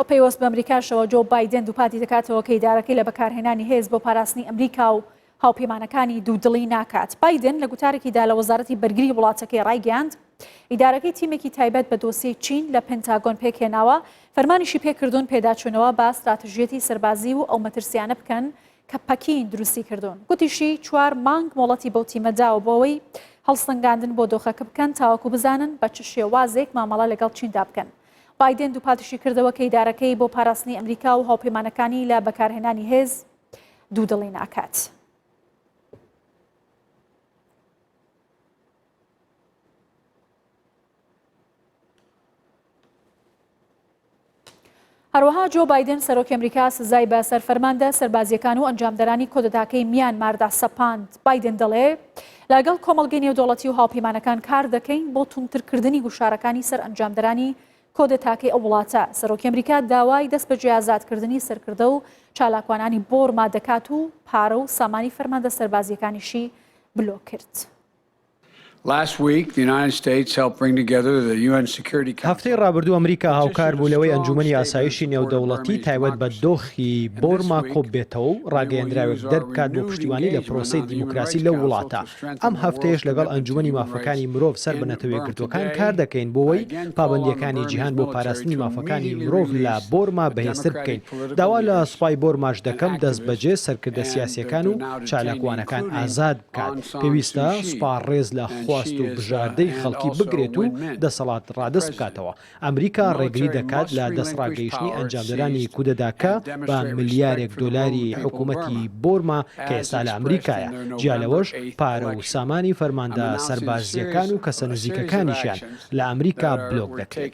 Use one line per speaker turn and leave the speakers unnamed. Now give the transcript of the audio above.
و پەیوەست بە ئەمریکاشەوە، جۆو بایدێن دووپاتی دەکاتەوە کە ئیدارەکەی لە بەکارهێنانی هێز بۆ پاراستنی ئەمریکا و هاوپەیمانەکانی دوودڵی ناکات. بایدێن لە گوتارێکیدا لە وەزارەتی بەرگری وڵاتەکەی ڕایگەیاند، ئیدارەکەی تیمێکی تایبەت بە دۆسیەی چین لە پنتاگۆن پێکهێناوە، فەرمانیشی پێکردوون پێداچوونەوە بە ستراتژیەتی سەربازی و ئەو مەترسیانە بکەن کە پەکین دروستی کردوون. گوتیشی، چوار مانگ مۆڵەتی بەو تیمە داوە بۆ ئەوەی هەڵسەنگاندن بۆ دۆخەکە بکەن تاوەکو بزانن بە چ شێوازێک مامەڵە لەگەڵ چیندا بکەن. بایدن دووپاتیشیکردەوە کە ئیدارەکەی بۆ پاراستنی ئەمریکا و هاوپەیمانەکانی لە بەکارهێنانی هێز دوودڵی ناکات. هەروەها جۆ بایدن سەرۆکی ئەمریکا سزای بە سەر فەرماندە سەربازیەکان و ئەنجامدەرانی کۆدەتاکەی میانماردا سەپاند. بایدن دەڵێ لەگەڵ کۆمەڵگەی نێودەوڵەتی و هاوپەیمانەکان کار دەکەین بۆ توندترکردنی گوشارەکانی سەر ئەنجامدەرانی کۆدەتاکەی ئەو وڵاتە سەرۆکی ئەمریکا داوای دەست بەجێ ئازادکردنی سەرکردە و چالاکوانانی بۆرما دەکات و پارە و سامانی فەرماندە سەربازیەکانیشی بلۆک کرد.
هەفتەی ڕابردوو ئەمریکا هاوکار بوو لەوەی ئەنجوومەنی ئاسایشی نێودەوڵەتی تایبەت بە دۆخی بۆرما کۆببێتەوە و ڕاگەیەندراوێک دەربکات بۆ پشتیوانی لە پرۆسەی دیموکراسی لەو وڵاتە. ئەم هەفتەیەش لەگەڵ ئەنجوومەنی مافەکانی مرۆڤ سەر بە نەتەوەیەکگرتووەکان کار دەکەین بۆوەی پابەندییەکانی جیهان بۆ پاراستنی مافەکانی مرۆڤ لە بۆرما بەهێزتر بکەین. داوا لە سوپای بۆرماش دەکەم دەستبەجێ سەرکردە سیاسییەکان و چالاکوانەکان ئازاد کات پێویستە سوپا ڕێز لە خواست و بژاردەی خەڵکی بگرێت و دەسەڵات ڕادەست بکاتەوە. ئەمریکا ڕێگری دەکات لە دەستڕاگەیشتنی ئەنجامدەرانی کودەتاکە بە ملیارێک دۆلاری حکوومەتی بۆرما کە ئێستا لە ئەمریکایە، جیا لەوەش پارە و سامانی فەرماندە سەربازییەکان و کەسە نزیکەکانیشیان لە ئەمریکا بلۆک دەکرێت.